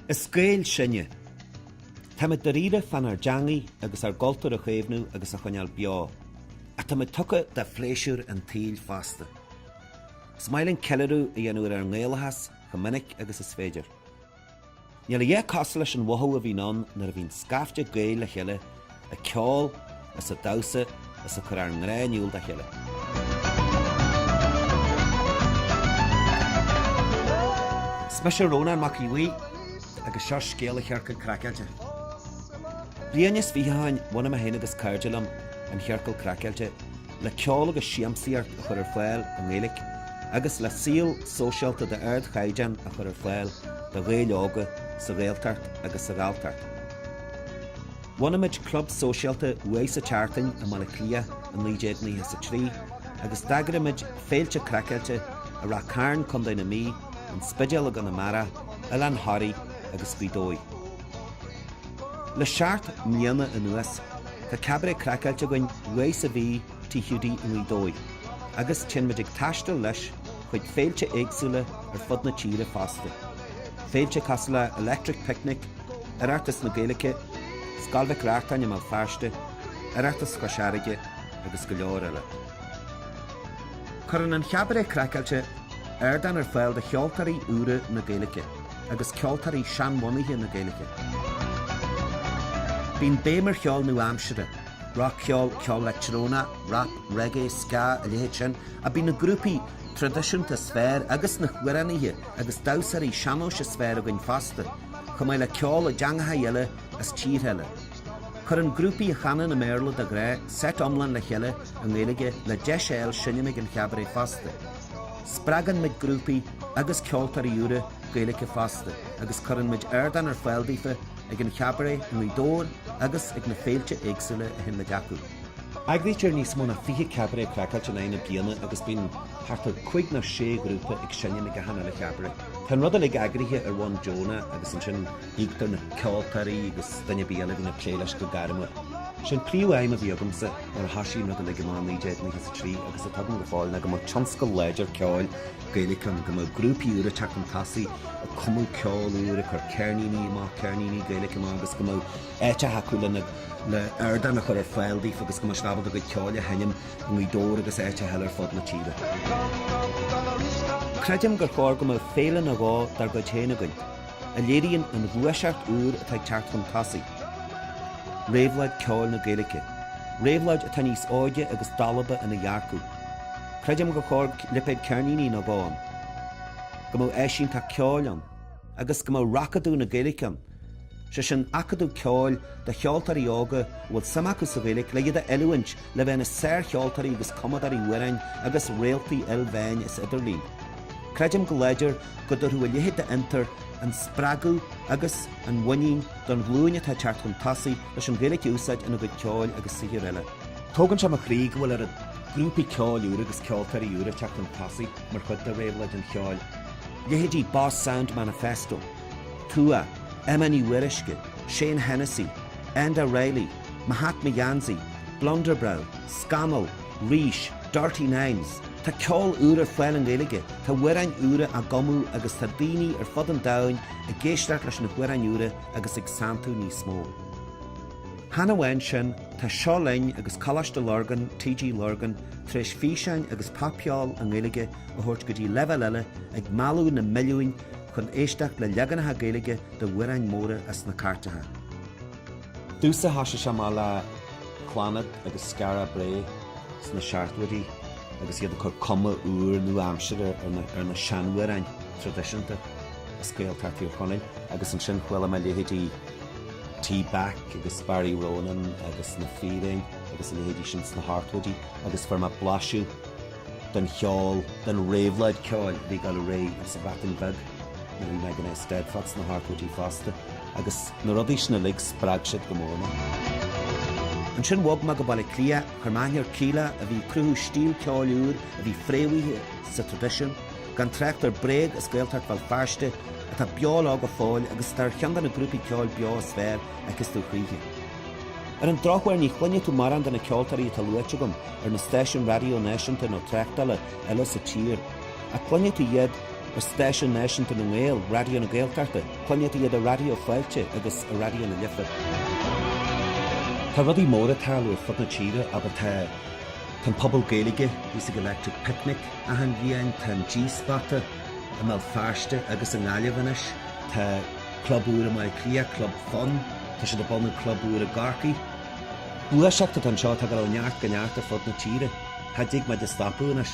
Is Gaeil sinne. Táimid dairíre fán ár dteangaidh agus ár gcultúr a chaomhnú agus a choinneáil beo. Ach táimid tugtha do phléisiúir an tsaoil fosta. Is maith linn ceiliúradh a dhéanamh ar ár nGaelachas chomh minic agus is féidir. Níl a dhath cosúil leis an mhothú a bhíonn ann nuair a bhíonn scaifte Gaeil le chéile ag ceol is ag damhsa is ag cur ár ngrá in iúl dá chéile. Is mise Rónán Mac Aodh Bhuí agus seo scéal an Chiorcail craiceáilte. Bliain is fiche ó shin bhunaigh mé féin agus cairde liom an chiorcal craiceáilte le ceol agus siamsaíocht a chur ar fáil i nGaeilge agus le saol sóisialta d'ardchaighdeán a chur ar fáil do Ghaeil óga sa Ghaeltacht agus sa Ghalltacht. Bhunaigh muid club sóisialta uair sa tseachtain i mBaile Átha Cliath i 1993 agus d'eagraigh muid féilte craiceáilte i Rath Cairn, Co. na Mí, an Spidéal i gConamara, Oileán Thoraí agus Gaoth Dobhair. Le seacht mbliana anuas, tá Cabaret Craiceáilte againn uair sa mhí, Tigh Hiúdaí i nGaoth Dobhair, agus téann muid ag taisteal leis chuig féilte éagsúla ar fud na tíre fosta, féilte cosúil le Electric Picnic, Oireachtas na Gaeilge, Scoil Mhic Reachtáin i mBéal Feirste, Oireachtas Chois Fharraige agus go leor eile. Cuireann an Chabaret Craiceáilte ardán ar fáil do cheoltóirí úra na Gaeilge. agus ceoltóirí seanbhunaithe na Gaeilge. Bíonn béim ar cheol nua-aimseartha, rac-cheol, ceol leictreonach, rap, reggae, ska, a leithéid sin, ach bíonn na grúpaí traidisiúnta is fearr agus na hamhránaithe agus damhsóirí sean-nóis is fearr againn fosta, chomh maith le ceol i dteangacha eile as tíortha eile. Cuireann grúpaí a chanann i mBéarla, de ghnáth, seit iomlán le chéile i nGaeilge le deis a fháil seinm ag an Chabaret fosta. Spreagann muid grúpaí agus ceoltóirí úra Gaeilge fosta agus cuireann muid ardán ar fáil daofa ag an Chabaret i nGaoth Dobhair agus ag na féilte éagsúla a théann muid chucu. Eagraítear níos mó ná 20 Cabaret Craiceáilte in aghaidh na bliana agus bíonn thart ar cúig nó sé ghrúpa ag seinm ag achan uile Chabaret. Tá an rud uilig eagraithe ar bhonn deonach agus ansin, Íoctar na ceoltóirí agus duine ar bith eile a bhíonn ag plé leis go gairmiúil. Sé an príomhaidhm a bhí agamsa nuair a thoisigh an rud uilig i Márta 1993 agus atá agam go fóill ná go mbeadh tionscal láidir ceoil Gaeilge ann, go mbeadh grúpaí úra ag teacht chun tosaigh, ag cumadh ceol úr, ag cur ceirníní amach, ceirníní Gaeilge amach agus go mbeadh áiteacha acu lena, le ardán a chur ar fáil daofa agus go mbeadh siad ábalta a gcuid ceoil a sheinm i nGaoth Dobhair agus áiteacha eile ar fud na tíre. Creidim gur chóir go mbeadh féile nó dhó dár gcuid féin againn. a léiríonn an ghluaiseacht úr atá ag teacht chun tosaigh, réabhlóid ceoil na Gaeilge, réabhlóid atá níos óige agus dalba ina dhearcadh. Creidim gur chóir lipéad ceirníní nó dhó ann, go mbeadh áisínteacht ceoil ann agus go mbeadh Racadamh na Gaeilge ann, sé sin, acadamh ceoil do cheoltóirí óga a bhfuil suim acu sa Ghaeilge le iad a oiliúint le bheith ina sárcheoltóirí agus cumadóirí amhráin agus réaltaí ilmheáin is idirlín. Creidim go láidir go dtabharfadh a leithéid d'fhiontar an spreagadh agus an mhuinín don ghlúin atá ag teacht chun tosaigh leis an Ghaeilge a úsáid ina gcuid ceoil agus saothair eile. Tógann sé mo chroí go bhfuil oiread grúpaí ceoil úra agus ceoltóirí úra ag teacht chun tosaigh mar chuid de réabhlóid an cheoil, leithéidí Boss Sound Manifesto, Tuath, Emma Ní Fhíoruisce, Shane Hennessy, Enda Reilly, Mo Hat Mo Gheansaí, Blunderbrew, Scamall, Rís, Dirty Nines. Tá ceol úr ar fáil i nGaeilge, tá amhráin úra á gcumadh agus tá daoine ar fud an domhain ag éisteacht leis na hamhráin úra agus ag santú níos mó. Chan amháin sin, tá Seo Linn agus Coláiste Lurgan, TG Lurgan, tar éis físeáin agus popcheol i nGaeilge a thabhairt go dtí leibhéal eile, ag mealladh na milliúin chun éisteacht le leaganacha Gaeilge de amhráin móra as na cairteacha. Domhsa thosaigh sé seo amach le Clannad agus Skara Brae sna seachtóidí agus iad ag cur cuma úr nua-aimsire ar na sean-amhráin traidisiúnta as Gaeltacht Thír Chonaill. Agus ansin chuala mé leithéidí T-Back agus Barry Ronan agus Na Fíréin agus a leithéidí sin sna hochtóidí agus fuair mé blaiseadh den cheol, den réabhlóid ceoil a bhí ag dul ar aghaidh sa Bhreatain Bheag. Nuair a bhí mé ag an Eisteddfod sna hochtóidí fosta agus na rudaí sin uilig, spreag siad go mór mé. Ansin bhog mé go Baile Átha Cliath, chuir mé aithne ar Kíla, a bhí ag cruthú stíl ceoil úr a bhí fréamhaithe sa traidisiún, gan trácht ar Bréag as Gaeltacht Bhéal Feirste, atá beo lá go fóill agus atá ar cheann de na grúpaí ceoil beo is fearr a fheiceas tú choíche. Ar an drochuair, ní chluinfidh tú mórán de na ceoltóirí atá luaite agam ar na stáisiúin raidió náisiúnta nó tráchtála eile sa tír, ach cluinfidh tú iad ar stáisiún náisiúnta na nGael, Raidió na Gaeltachta, cluinfidh tú iad ar Raidió Fáilte agus ar Raidió na Life. Tá rudaí móra ag tarlú ar fud na tíre, abair tá, tá an Puball Gaeilge thíos ag Electric Picnic achan bhliain, tá an G-Spota i mBéal Feirste agus i nGaillimh anois, tá club úr i mBaile Átha Cliath, Club Fun, tá siad ag bunú club úr i gCorcaigh. Gluaiseacht atá anseo atá ag dul ó neart go neart ar fud na tíre. Cha dtig muid a stopadh anois.